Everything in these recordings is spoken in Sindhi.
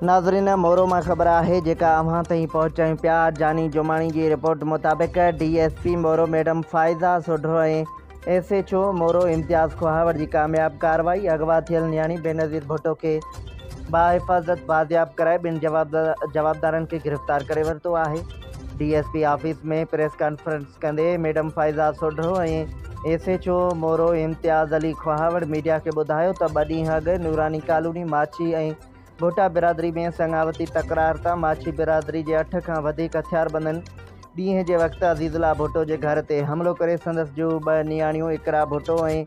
ناظرين مورو مان خبر آهي جيڪا اوهان تائين پهچايون پيا جاني جوماڻي جي رپورٽ مطابق D S P Moro madam Faiza Sodho ۽ S H O Moro Imtiaz Kohawar جي ڪامياب ڪارروائي اغوا ٿيل نياڻي بينظير ڀٽو کي باحفاظت بازياب ڪرائي ٻن جوابدارن کي گرفتار ڪري ورتو آهي D S P office ۾ press conference ڪندي madam Faiza Sodho ۽ S H O Moro Imtiaz Ali Kohawar media کي ٻڌايو ته ٻه ڏينهن اڳ نوراني ڪالوني ماڇي ۽ گهوٽا برادري ۾ سڱاوتي تڪرار تان ماڇي برادري جي اٺ کان وڌيڪ هٿياربندن ڏينهن جي وقت عزيز الله ڀٽو جي گهر تي حملو ڪري سندس جون ٻه نياڻيون اقرا ڀٽو ۽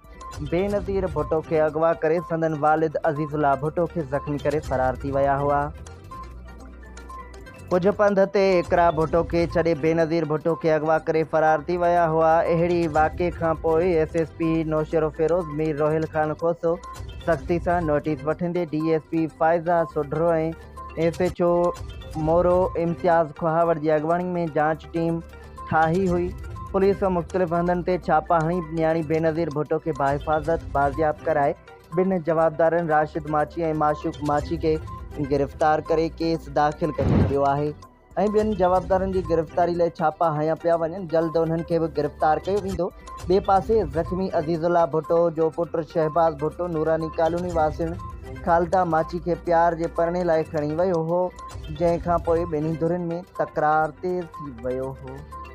بينظير ڀٽو کي اغوا ڪري سندن والد عزيز الله ڀٽو کي زخمي ڪري فرار ٿي ويا هئا. ڪجهه پنڌ تي اقرا ڀٽو کي ڇڏي بينظير ڀٽو کي اغوا ڪري فرار ٿي ويا هئا. اهڙي واقعي کانپوء S S P Naushahro Feroze Mir Roheel Khan Khoso سختي سان نوٽيس وٺندي D S P Faiza Sodhro ۽ S H O Moro Imtiaz Kohawar جي اڳواڻي ۾ جاچ ٽيم ٺاهي هئي. پوليس مختلف هنڌن تي ڇاپا هڻي نياڻي بينظير ڀٽو کي باحفاظت بازياب ڪرائي ٻن جوابدارن راشد ماڇي ۽ معشوق ماڇي کي گرفتار ڪري ڪيس داخل ڪري ڇڏيو آهي ۽ ٻين جوابدارن جي گرفتاري لاء ڇاپا هنيا پيا وڃن جلد انهن کي به گرفتار ڪيو ويندو ٻئي پاسي زخمي عزيز الله ڀٽو جو پٽ شهباز ڀٽو نوراني ڪالوني واسين خالده ماڇي کي پيار جي پرڻي لاء کڻي ويو هو جنهن کانپوء ٻنهي ڌرين ۾ تڪرار تيز ٿي ويو هو